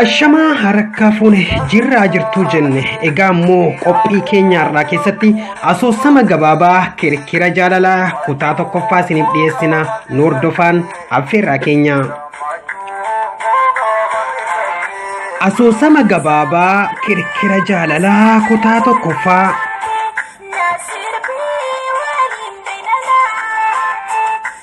Ashamaa harakkaa fuune jirraa jirtuu jenne egaa immoo qophii keenya har'aa keessatti asoosama gabaabaa kirkira jaalalaa kutaa tokkoffaa isiniif dhiyeessina nu hordofaan affeerraa keenya. Asoosama gabaabaa kirkira jaalalaa kutaa tokkoffaa.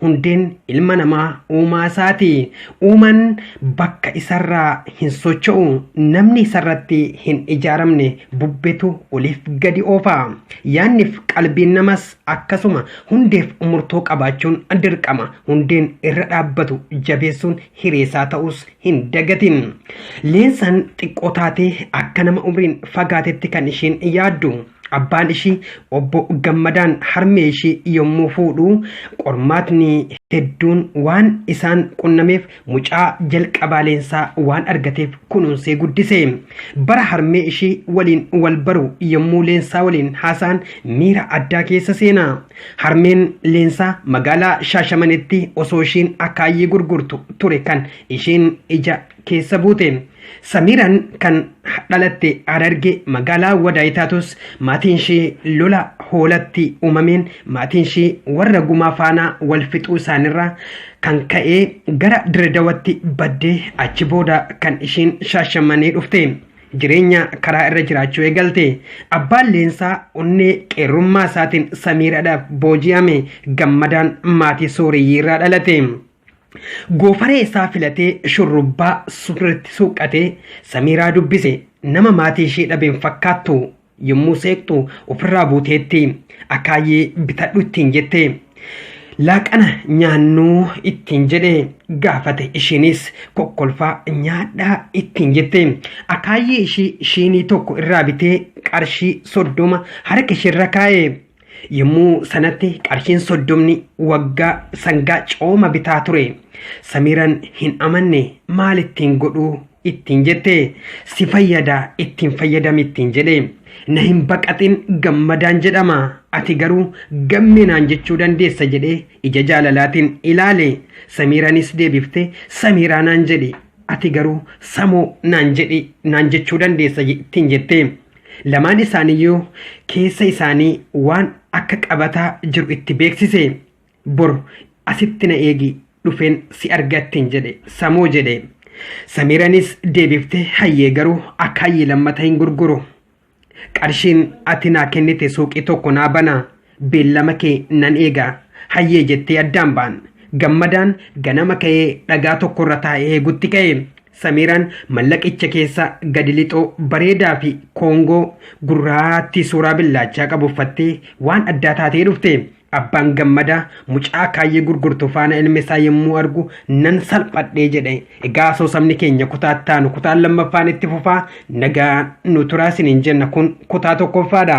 hundeen ilma namaa uumaa isaati. Uumaan bakka isarraa hin socho'u. Namni isarratti hin ijaaramne bubbetu oliif gadi oofa. Yaanniif qalbiin namas akkasuma hundeef murtoo qabaachuun dirqama. Hundeen irra dhaabbatu jabeessuun hireesaa ta'us hin dagatin. Leensaan xiqqoo taatee akka nama umriin fagaatetti kan isheen yaaddu. Abbaan ishii obbo Gammadaan harmee ishii yommuu fuudhu qormaatni hedduun waan isaan qunnameef mucaa jalqabaaleensaa waan argateef kunuunsee guddise. Bara harmee ishii waliin wal baru yommuu leensaa waliin haasa'an miira addaa keessa seena. Harmeen leensaa magaalaa Shaashamanetti osoo ishiin akaayii gurgurtu ture kan ishiin ija keessa buute. Samiiraan kan dhalatte Hararge magaalaa Wadaay taatus maatiin ishee lola hoolatti uumameen maatiin ishee warra gumaa faanaa wal fixuu isaanirraa kan ka'ee gara Diredawatti badde achi booda kan isheen shaashamannee dhufte. Jireenya karaa irra jiraachuu eegalte. Abbaan leensaa onnee qeerrummaa isaatiin Samiiraadhaaf booji'ame gammadaan maatii sooreyyii irraa dhalate. Goofaree isaa filatee shurrubbaa surreetti suuqqatee Samiiraa dubbise. Nama maatii ishee dhabeen fakkaattu. Yommuu seeqxu ofirraa buuteetti. Akaayyee bitadhu ittiin jette. Laaqana nyaannuu ittiin jedhe gaafate ishiinis kokkolfaa nyaadhaa ittiin jette. Akaayyee ishii shiinii tokko irraa bitee qarshii soddoma harka isheerra kaa'e. Yommuu sanatti qarshiin soddomni waggaa sangaa cooma bitaa ture. Samiiran hin amanne maal ittiin godhuu ittiin jette si fayyada ittiin fayyadami ittiin jedhe. Na hin baqatin gammadaan jedhama ati garuu gamme naan jechuu dandeessa jedhee ija jaalalaatiin ilaale. Samiiranis deebifte samiiraa naan jedhi ati garuu samoo naan jedhi naan jechuu dandeessa ittiin jette. Lamaan isaaniiyyuu keessa isaanii waan akka qabataa jiru itti beeksise. Bor asitti na eegi dhufeen si argattiin jedhe samuu jedhe. Samiiranis deebiftee hayyee garuu akka hayyii lammata hin gurguru. Qarshiin ati naa kennite suuqii tokko naa bana. Beellama kee nan eega. Hayyee jettee addaan ba'an. Gammadaan ganama ka'ee dhagaa tokkorra taa'ee eegutti ka'e. Samiiraan mallaqicha keessaa gadi lixoo bareedaa fi koongoo gurraattii suuraa billaachaa qabu uffattee waan addaa taatee dhufte. Abbaan gammadaa mucaa kaayyee gurgurtu faana ilmi isaa yommuu argu nan salphadhee jedhe. Egaa asoosamni keenya kutaa itti aanu kutaan lammaffaan itti fufaa nagaa nu turaa isiniin jenna kun kutaa tokkoffaadha.